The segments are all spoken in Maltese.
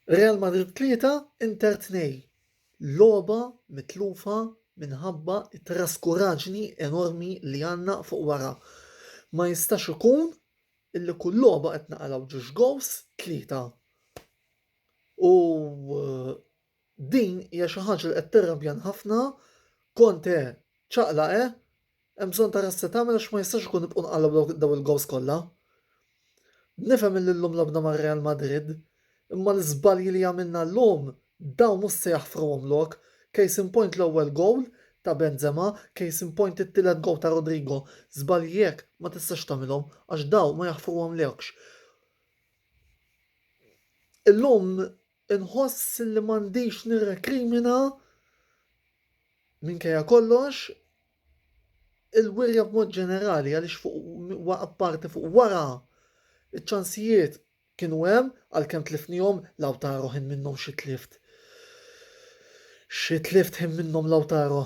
Real Madrid 3, Inter 2, logħba mitlufa minħabba t-traskuraġni enormi li għandna fuq wara. Ma jistax ikun illi kull logħba qed naqalgħu ġiex gowls tlieta u Din hija xi ħaġa li qed tirrabjan ħafna, Conte ċaqlaq eh, hemm bżonn tara x'se tagħmel għax ma jistax ikun nibqgħu nqallgħu dawn il-gowls kollha. Nifhem illi llum lagħbna ma' Real Madrid, imma l-iżbalji li għamilna llum dawn mhux se jaħfruhom lok, case in point l-ewwel gowl ta' Benzema, case in point it-tielet gowl ta' Rodrygo, żbalji hekk ma tistax tagħmilhom għax dawn ma jaħfruhomlokx. Illum Inħoss li m'għandix nirrekrimina, minkejja kollox, il-wirja b'mod ġenerali għaliex fuq apparti fuq wara iċ-ċansijiet kienu hemm għalkemm tlifnihom Lautaro ħin minnhom xi tlift. Xi tlift ħin minnhom Lautaro.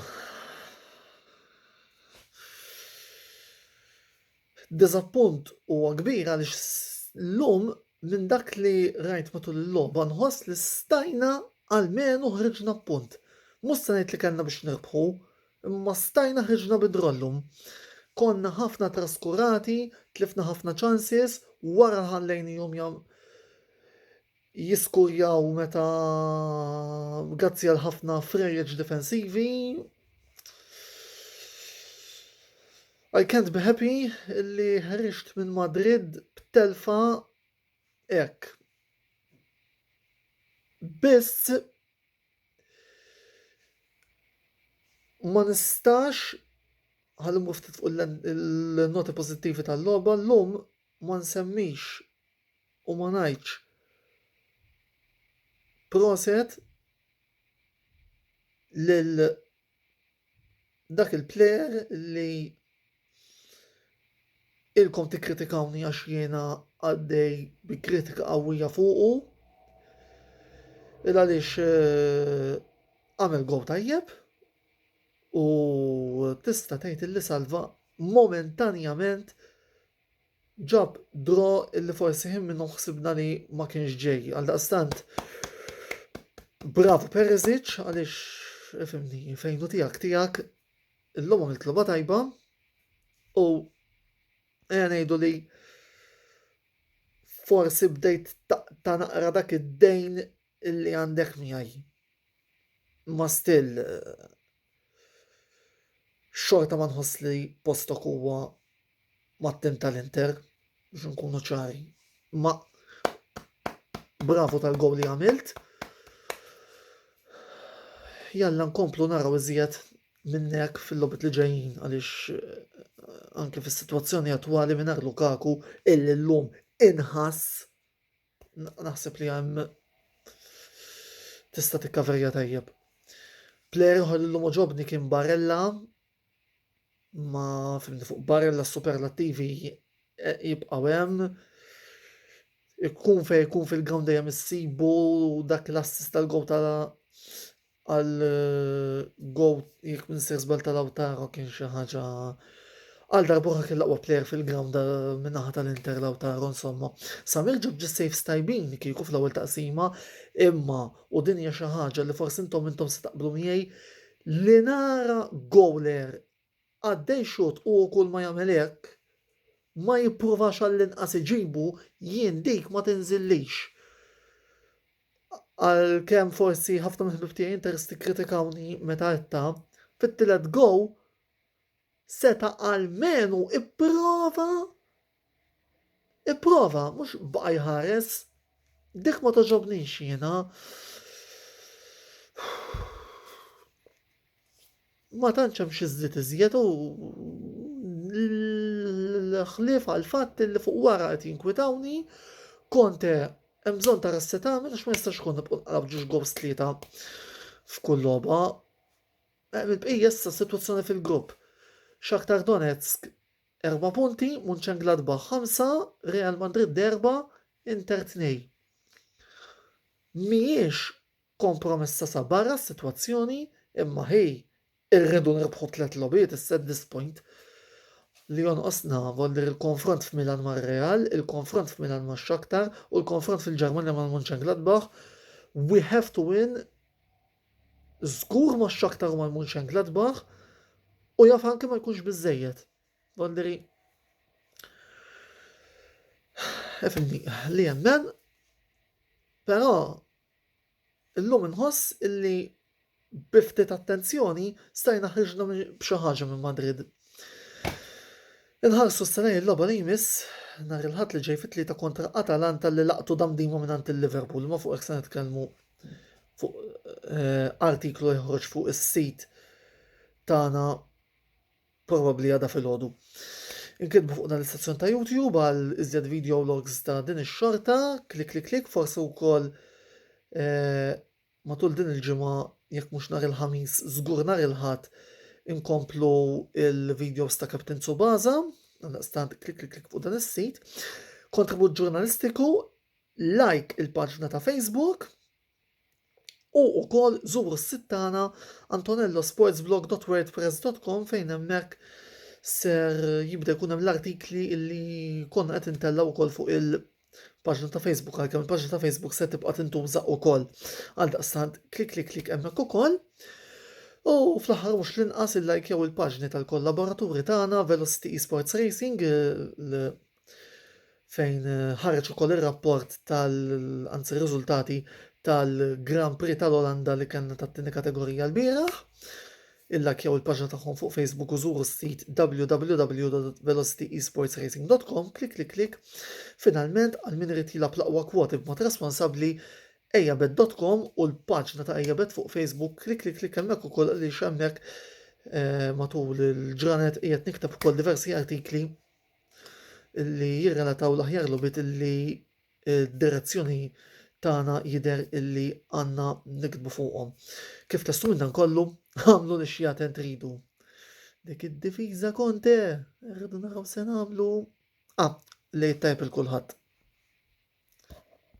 Diżappunt huwa kbir għaliex llum minn dak li rajt matul il-logħba nħoss li stajna almenu ħriġna b'punt. Mhux se ngħid li kellna biex nirbħu, imma stajna ħriġna bi draw llum. Konna ħafna traskurati, tlifna ħafna chances, wara ħallejnihom jiskurjaw meta grazzi għal ħafna frejjeġ difensivi. I can't be happy li ħriġt minn Madrid b'telfa ek. Biss ma nistax ħalli muftit fuq il-noti pozittivi tal-logħba llum ma nsemmix u ma ngħidx proset lil dak il-plejer li ilkom tikkritikawni għax jiena għaddej bi kritika qawwija fuqu. Il għaliex eh, għamel gow tajjeb u tista' tgħid li salva momentanjament Ġab draw illi forsi ħin minnu ħsibna li ma kienx ġej. Għaldaqstant, bravo Perisic għaliex ifimni fejnu tiegħek tiegħek illum għamilt loba tajba u ejja ngħidu li forsi bdejt ta' naqra dak id-dejn illi għandek miegħi. Ma still xorta ma nħoss li postok huwa mat-tim tal-Inter biex nkunu ċari. Ma bravo tal-gowl li għamilt. Jalla nkomplu naraw iżjed minnek fil-lobit li ġejjin għaliex eh, anke fis-sitwazzjoni attwali minn Lukaku illi llum inħass naħseb li hemm tista' tikkaverja tajjeb. Player ħol l-lum oġobni kien Barella, ma fimni fuq barrella s-superlattivi eh, jibqaw hemm. Ikun fej ikun fil-ground dejjem issibu dak l-assist tal-gow ta' għal eh, gow jekk minn sir żbal tal-awtaro kien xi ħaġa għal darbuħa kien laqwa player fil-ground eh, minnaħa tal-Inter Lautaro insomma. Samir ġib ġis safes tajbin kieku fl-ewwel taqsima imma u din hija xi ħaġa li forsi intom intom se taqblu miegħi Li nara goaler għaddej ixutt u kull ma jagħmel hekk, ma jippruvax għall-inqas iġibu, jien dik ma tinżillix. Għalkemm forsi ħafna mill-ħbieb tiegħi Inters tikkritikawni meta għedtha, fit-tielet goal seta' almenu ipprova Ipprova, mhux baqa' jħares. Dik ma togħġobnix jiena. Ma tantx hemm xi żdied iżjed u l-ħlief għal fatt li fuq wara qed jinkwitawni Konte hemm bżonn ta' rassetamin għax ma jistax ikun nibqgħu nqalab ġiex gows tlieta f'kull logħba. Il-bqija issa sitwazzjoni fil-grupp. Shakhtar Donetsk Erba' punti, Munchengladbach ħamsa, Real Madrid erba', Inter tnej. Mhijiex kompromessa sa barra s-sitwazzjoni imma ħej irridu nirbħu tliet logħbiet issa at this point li jonqosna volli l-konfront f'Milan mar-Real, il-konfront f'Milan ma' Shakhtar u l-konfront fil-Ġermanja mal-Munchengladbach. We have to win Żgur ma x-Shakhtar u mal-Mönchengladbach u jaf anke ma jkunx biżejjed. Gonderi. Efimni, li jemmen, però illum inħoss illi biftit attenzjoni stajna ħriġna b'xi ħaġa minn Madrid. Inħarsu s-sena il-loba li jmiss nhar il-ħadd li ġej fit-tlieta kontra Atalanta li laqtu damdima mingħand il-Liverpool, ma fuq hekk se nitkellmu fuq eh, artiklu jħroġ fuq is-sit tagħna probabbli għada fil-ħodu. Inkitbu fuq dan l-istazzjon ta' YouTube għal iżjed video logs ta' din ix-xorta, klik klik klik, forsi wkoll eh, matul din il-ġimgħa jekk mhux nhar il-ħamis, żgur nhar il-ħadd inkomplu il-videos ta' Captain Tsubaza, għandaqstant klik klik klik fuq dan is-sit. Kontribut ġurnalistiku Like il-paġna ta' Facebook u wkoll żuru s-sit tagħna antonellosportsblog.wordpress.com fejn hemmhekk ser jibda jkun hemm l-artikli li konna qed intellgħu wkoll fuq il- paġna ta' Facebook għalkemm il-paġna ta' Facebook se tibqa' tintuża wkoll. Għal daqstant klik klik klik hemmhekk ukoll. U fl-aħħar mhux l-inqas il-like jew il-paġni tal-kollaboraturi tagħna Velocity Esports Racing, fejn eh, ħareġ ukoll ir-rapport tal anzi r-riżultati tal-Grand Prix tal-Olanda li kellna tat-tieni kategorija l-bieraħ. Il-lakjaw il-paġna tagħhom fuq Facebook u żuru s-sit www.velocityesportsracing.com klik klik klik. Finalment għal min irid jilab l-aqwa kwoti b'mod responsabbli ejabet.com u l-paġna ta' ejabet fuq Facebook klik klik klik hemmhekk ukoll li xemmek eh, matul il-ġranet qiegħed nikteb ukoll diversi artikli li jirrelataw l-aħjar logħbiet illi d-direzzjoni tagħna jidher illi għandna nikdbu fuqhom. Kif testu minn dan kollu, għamlu li xi għaten tridu. Dik id-difiża konte, rridu naraw se nagħmlu. Ah, li tajb il-kulħadd.